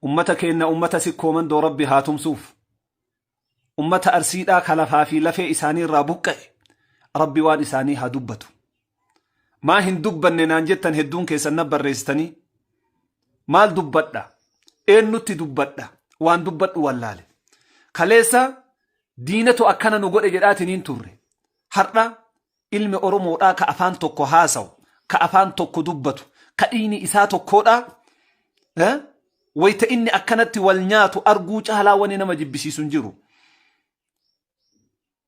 Ummata keenna ummata sikkoo mandoo Rabbi haa tumsuuf. Ummata Arsiidhaa ka lafaa fi lafee isaanii irraa buqqa'e Rabbi waan isaanii haa dubbatu. Maa hin dubbanne naan jettan hedduun keessan na barreessitanii. Maal dubbadha? Eennutti dubbadha? Waan dubbadhu wallaale. Kaleessa diinatu akkana nu godhe jedhaatiniin turre. Har'a Ilmi Oromoodhaa ka afaan tokko haasawu, ka afaan tokko dubbatu, ka dhiigni isaa tokkoodhaa, eh, wayta inni akkanatti wal nyaatu arguu caalaa wani nama jibbisiisu hin jiru.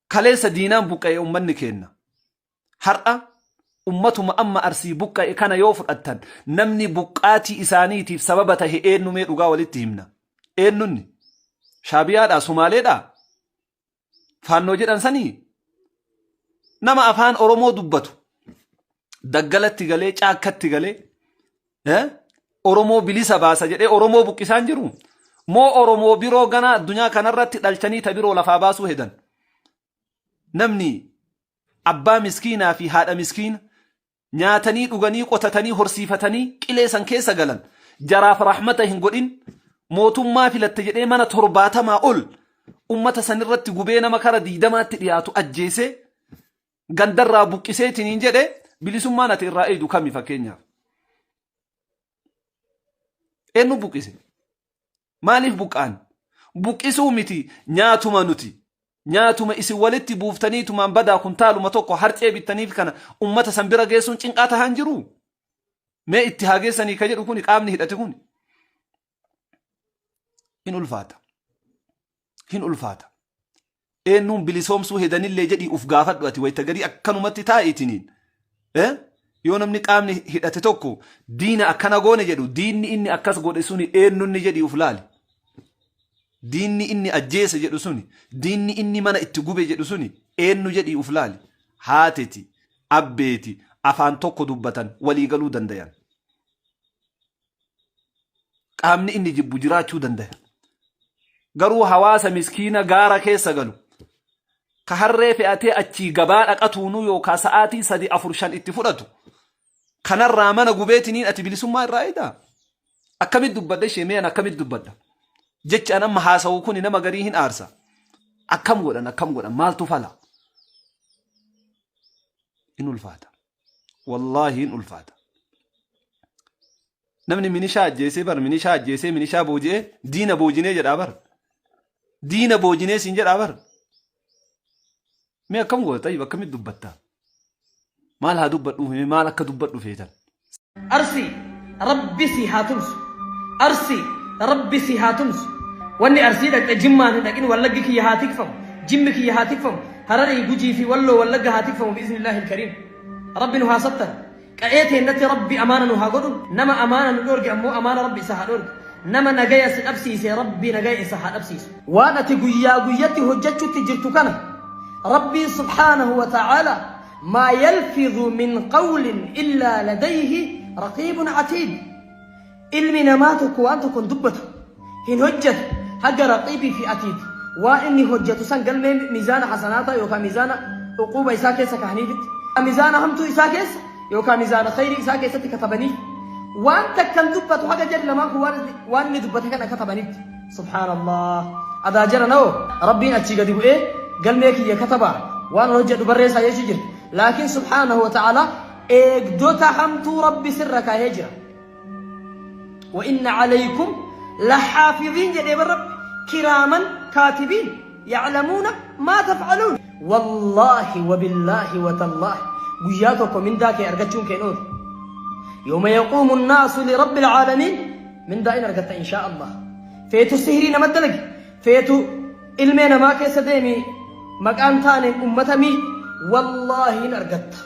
Kaleessa diinaan buqqa'e ummanni keenna. Har'a ummatuma amma arsii buqqa'e kana yoo fudhattan namni buqqaatii isaaniitiif sababa tahe eenyumee dhugaa walitti himna. Eenyunni? Shaabiyaadhaa? Sumaaleedhaa? faannoo jedhan sanii nama afaan Oromoo dubbatu daggalatti galee caakkatti galee eh, Oromoo bilisa baasa jedhee Oromoo buqqisaan jiru moo Oromoo biroo ganaa addunyaa kanarratti dhalchanii ta biroo lafaa baasuu hedan namni abbaa miskiinaa fi haadha miskiina nyaatanii dhuganii qotatanii horsiifatanii qilee san keessa galan jaraaf rahmata hin godhin mootummaa filatte jedhee mana torbaatamaa ol ummata san irratti gubee nama kara diidamaatti dhiyaatu ajjeesee gandarraa buqqiseetiin hin jedhe bilisummaan ati irraa eeydu kami fakkeenyaaf. Eenyu buqqise? Maaliif buqqaan? Buqqisuu miti nyaatuma nuti. Nyaatuma isin walitti buuftanii tumaan badaa kuntaaluma tokko harcee bittaniif kana ummata san bira geessuun cinqaa tahaan jiru. Mee itti haa geessanii ka jedhu kuni qaamni hidhate kuni. In ulfaata. hin ulfaata. Eennuun bilisoomsuu hedanillee jedhii uf gaafadhu ati wayita garii akkanumatti taa'itiniin. Eh? Yoo namni qaamni hidhate tokko diina akkana goone jedhu diinni inni akkas godhe suni eenyunni jedhii uf laali. Diinni inni ajjeese jedhu suni diinni inni mana itti gube jedhu suni eenyu jedhii uf laali. Haateti, abbeeti, afaan tokko dubbatan walii galuu dandayan. qaamni inni jibbu jiraachuu dandaya garuu hawaasa miskiina gaara keessa galu ka harree fe'atee achii gabaa dhaqatuunuu yookaa sa'aatii sadi afur shan itti fudhatu kanarraa mana gubeetiniin ati bilisummaa irraa edaa akkamit dubbadha ishee mee an akkamit dubbadha jechaan amma haasawu kun nama garii hin aarsa akkam godhan akkam godhan maaltu fala in ulfaata wallaahi hin ulfaata namni minishaa ajjeesee bar minishaa ajjeesee minishaa booji'ee diina boojinee jedhaa bar diina boojinee siin jedhaa bar mee akkam goota tayyib akkamitti dubbatta maal haa dubbadhuuf mee maal akka dubbadhu feetan Arsii rabbi sii haa tumsu. Arsii rabbi sii haa tumsu. Wanni arsii dhaqxe jimmaan hin dhaqin wallaggi kiyya haa tikfamu. Jimmi kiyya haa tikfamu. Hararii gujii fi walloo wallagga haa tikfamu bi'iznillaahi ilkariim. Rabbi nu haa sattan. Qa'ee teennatti rabbi amaana nu haa godhu. Nama amaana nu dhoorge ammoo amaana rabbi isa haa dhoorgu. Nama nagaya si dhabsiise rabbi nagaya isa haa dhabsiisu. Waan ati guyyaa guyyatti hojjachutti jirtu kana rabbiin subhaanahu wa ta'aalaa Maa yalfidhu min qawlin illaa ladayhi raqiibun atiid Ilmi namaa tokko waan tokko hin dubbatu, hin hojjatu, haga raqiibii fi atiid waan inni hojjatu san galmee miizaana hasanaataa yookaa miizaana uquuba isaa keessa kahaniifitti, miizaana hamtuu isaa keessa yookaa miizaana khayrii isaa keessatti katabaniif. Waan takka hin dubbatu haga jarri lamaan kun waan inni dubbate kana katabanitti. Subhaan Allah adaa jara nao rabbiin achii gadi bu'ee galmee kiyya kataba waan hojjedhu barreessaa jechuu jira laakiin subhaanahu wa ta'ala eegdota hamtuu rabbi sirra kaahee jira wa inna alaykum lahaafiziin jedhee bar rabbi kiraaman kaatibiin ya'lamuuna maa taf'aluun wallaahi wabillaahi watallaahi guyyaa tokko mindaa kee argachuun keen oolu yooma yaquumu nnaasu lirabbi alcaalamiin Mindaa in argatta inshaa Allah. Feetu sihirii nama dalagi. Feetu ilmee namaa keessa deemi maqaan taaneen ummata mii wallaahi in argatta.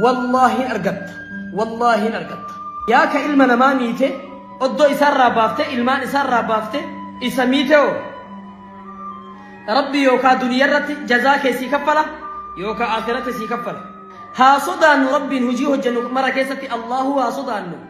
Wallaahi in argatta. Wallaahi in argatta. Yaa ka ilma namaa miite oddoo isaarraa baafte ilmaan isaarraa baafte isa miite hoo. Rabbi yookaa duniyaa irratti jazaa kee sii kaffala yookaa akhiratti sii kaffala. Haa sodaannu Rabbiin hojii hojjennu mara keessatti Allahu haa sodaannu.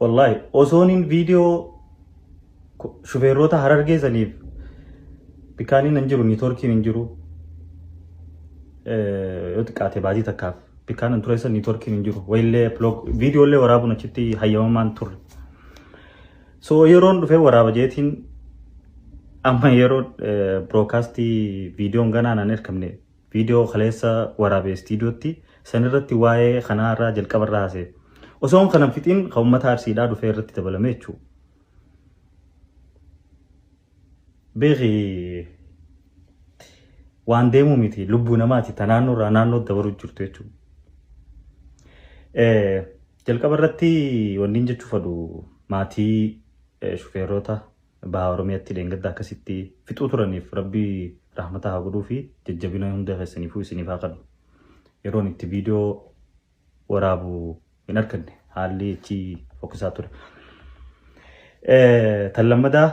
Wallaahi osooniin viidiyoo shufeerroota harargee saniif bikaaniin hin jiru niitoorkiin hin jiru yoo xiqqaate baajii takkaaf bikaan hin tureessa niitoorkiin hin jiru wayillee viidiyoollee waraabuun achitti hayyamamaan turre. So yeroon dhufee waraaba jeetiin amma yeroo birookaastii viidiyoon ganaa naan ergamne Viidiyoo kaleessa waraabe istiidiyootti san irratti waa'ee kanaa irraa jalqaba irraa haasa'e. Osoon kanan fixiin kan uummata Arsiidhaa dhufee irratti dabalame jechuu. Beeki waan deemuu miti lubbuu namaati ta naannoo irraa naannoo dabaruu jirtu jechuu. Jalqaba irratti wanniin jechuu fadhu maatii shufeerota Baha Oromiyaatti dheengadda akkasitti fixuu turaniif Rabbi rahmata haa godhuufi jajjabina hunda keessaniifuu isiniif haa kennu. Yeroon itti viidiyoo waraabu hin arganne haalli achi fokkisaa ture. Tan lammadaa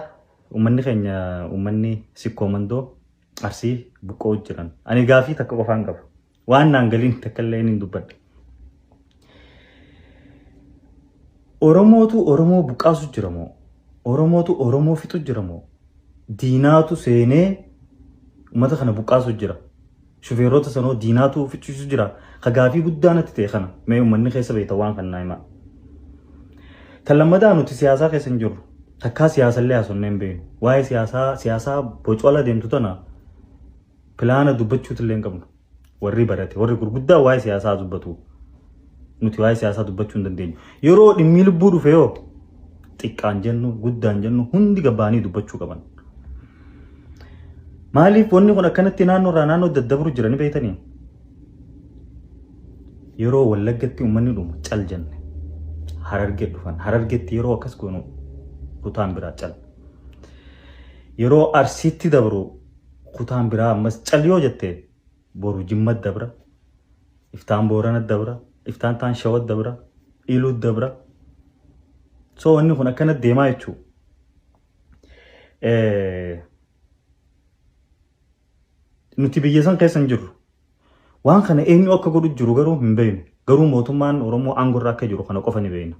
uummanni keenya uummanni sikkoo mandoo arsii buqqoo jiran. Ani gaafii takka qofaan qaba. Waan naan galiin takka illee inni dubbadha. Oromootu Oromoo buqqaasu jira moo? Oromootu Oromoo fixu jira moo? Diinaatu seenee uummata kana buqqaasu jira. Shufeerota sanoo diinaatu fichiisu jira. Ka gaafii guddaa natti ta'e kana mee uummanni keessa beekta waan kan naa himaa. Kan lammataa nuti siyaasaa keessa hin jirru. Takkaa siyaasallee haasofnee hin beeknu. Waa'ee siyaasaa siyaasaa bocola deemtu tana pilaana dubbachuutu illee hin qabnu. Warri barate, warri gurguddaa waa'ee siyaasaa dubbatu. Nuti waa'ee siyaasaa dubbachuu hin dandeenyu. Yeroo dhimmi lubbuu dhufe yoo xiqqaan jennu, guddaan jennu hundi gabbaanii dubbachuu qaban. Maaliif wanni kun akkanatti naannoo irraa naannoo daddabru jira ni beektanii? Yeroo wallaggatti uummanni dhumu cal jenne. Harargee dhufan. Harargeetti yeroo akkas goonu kutaan biraa cal. Yeroo arsiitti dabru kutaan biraa ammas cal yoo jette boru jimmat dabra iftaan booranat dabra iftaan taan shawat dabra iluut dabra so wanni kun akkanat deemaa jechuu nuti biyya san keessa hin jirru Waan kana eenyu akka godhu jiru garuu hin beeknu. Garuu mootummaan Oromoo aangoo irra akka jiru kana qofa ni beekna.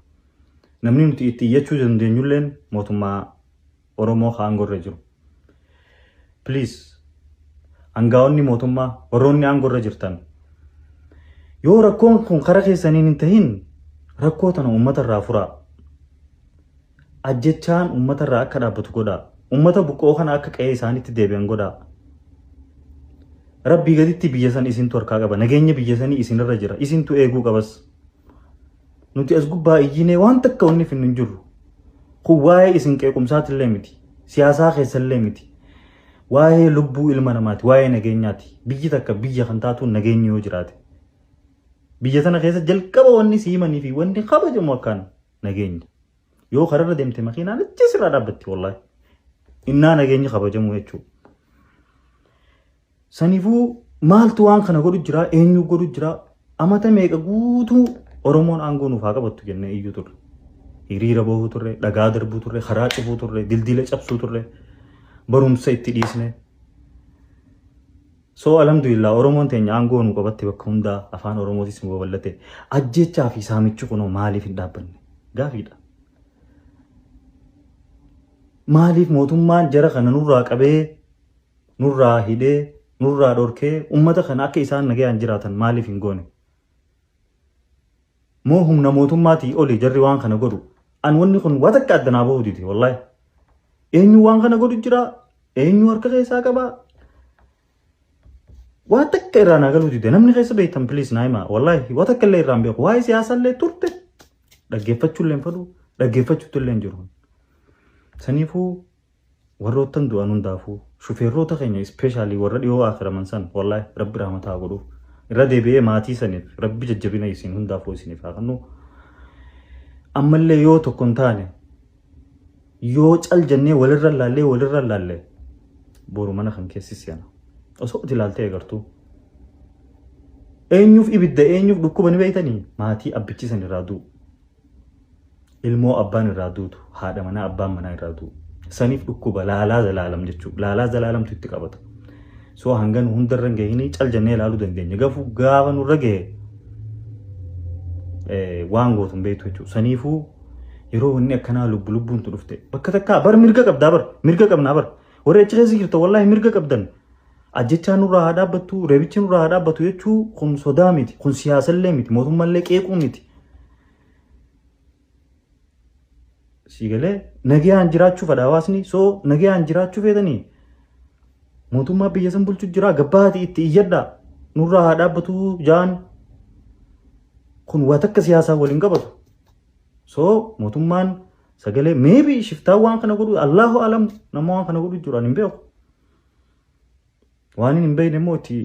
Namni nuti itti iyyachuu dandeenyulleen mootummaa Oromoo ka aangoo irra jiru. Please hangaa'onni mootummaa warroonni aangoo irra jirtan yoo rakkoon kun karaa keessaniin hin tahin rakkoo tana uummata irraa furaa. Ajjechaan uummata irraa akka dhaabbatu godhaa. Uummata buqqa'oo kana akka qe'ee isaaniitti deebi'an godhaa. Rabbii gaditti biyya san isintu harkaa qaba. Nageenya biyya sanii isinirra jira. Isintu eeguu qabas. Nuti as gubbaa iyyinee waan takka wanni finnu hin jirru. Kun waa'ee isin qeequmsaatillee miti. Siyaasaa keessallee miti. Waa'ee lubbuu ilma namaati. Waa'ee nageenyaati. Biyyi takka biyya kan taatuun nageenyi yoo jiraate. Biyya tana keessa jalqaba wanni siimanii fi wanni kabajamu akkaan. nageenya. Yoo kararra deemte makiinaan achi sirraa dhaabbatti wallahi. Innaa nageenyi kabajamu jechuudha. Sanifuu maaltu waan kana godhu jira eenyu godhu jira amata meeqa guutuu Oromoon aangoo nuuf haa qabattu jennee iyyuu turre. Hiriira bahuu turre, dhagaa darbuu turre, karaa cufuu turre, dildila cabsuu turre, barumsa itti dhiisne. So alhamdulillah Oromoon teenya aangoo nu qabatte bakka hundaa afaan Oromootis nu babal'ate. Ajjechaa fi saamichi kunoo maaliif hin dhaabbanne? Gaafiidha. Maaliif mootummaan jara kana nurraa qabee, nurraa hidhee, nurraa dhorkee uummata kana akka isaan nagayaan jiraatan maaliif hin goone? Moo humna mootummaatii oli jarri waan kana godhu? An wanni kun waa takka adda naa bahu dide wallahi. Eenyu waan kana godhu jira? Eenyu harka keessaa qaba? Waa takka irraa naa galuu dide namni keessa beektan please naa himaa wallahi waa takka illee irraa hin beeku waa'ee siyaasaa illee turte dhaggeeffachuu illee hin fadhu dhaggeeffachuutti illee hin jiru. Saniifuu Warroottan du'an hundaafuu, shufeerroota keenya especially warra dhihoo aakiraman san wallahi Rabbi rahmata haa godhuuf. Irra deebi'ee maatii saniif Rabbi jajjabina isin hundaafuu isiniif haa kennu. Ammallee yoo tokko hin taane yoo cal jennee walirra laallee walirra laalle boru mana kan keessi seena. Osoo ati ilaaltee agartuu. Eenyuuf ibidda eenyuuf dhukkuba ni beeytanii maatii abbichi san irraa du'u. ilmoo abbaan irraa duutu haadha manaa abbaan manaa irraa du'u saniif dhukkuba laalaa zalaalam jechuudha laalaa zalaalamtu itti qabata soo hangan hundarra hin gahinii cal jennee ilaaluu dandeenya gafu gaafa nurra gahe eh, waan gootu hin beektu jechuudha saniifuu yeroo wanni akkanaa lubbu lubbuun tu dhufte bakka takkaa bar mirga qabdaa bar mirga qabnaa bar warri achi keessa jirta wallaahi mirga qabdan Ajjechaa nurraa haa dhaabbattu, reebichi nurraa haa dhaabbatu jechuu kun sodaa miti, kun siyaasallee miti, mootummallee qeequu miti. Sii galee nagayaan jiraachuu fedha hawaasni soo nagayaan jiraachuu feetanii mootummaa biyya san bulchu jira gabbaati itti iyyadha nurraa haa dhaabbatu jaan kun waa takka siyaasaa waliin qabatu. Soo mootummaan sagalee meebi shiftaa waan kana godhu Allahu alam nama waan kana godhu jiru ani hin beeku. Waan hin beekne immoo itti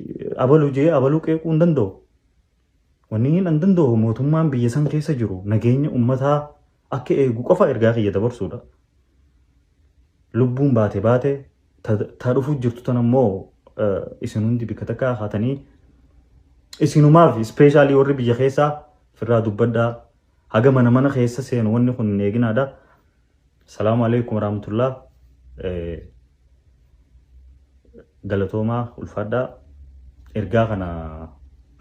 abaluu jee abaluu qeequu hin danda'u. Wanni hin an danda'u mootummaan biyya san keessa jiru nageenya ummataa akka eegu qofa ergaa kiyya dabarsuudha. Lubbuun baate baate taa dhufuu jirtu tan ammoo isin hundi bikka takka haatanii isinumaaf ispeeshaalii warri biyya keessaa firraa dubbadhaa haga mana mana keessa seenu wanni kun hin eeginaadha. Salaamu alaikum warahmatullah galatoomaa ulfaadhaa ergaa kana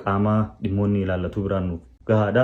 qaamaa dhimmoonni ilaallatuu biraan nuuf gahaadha.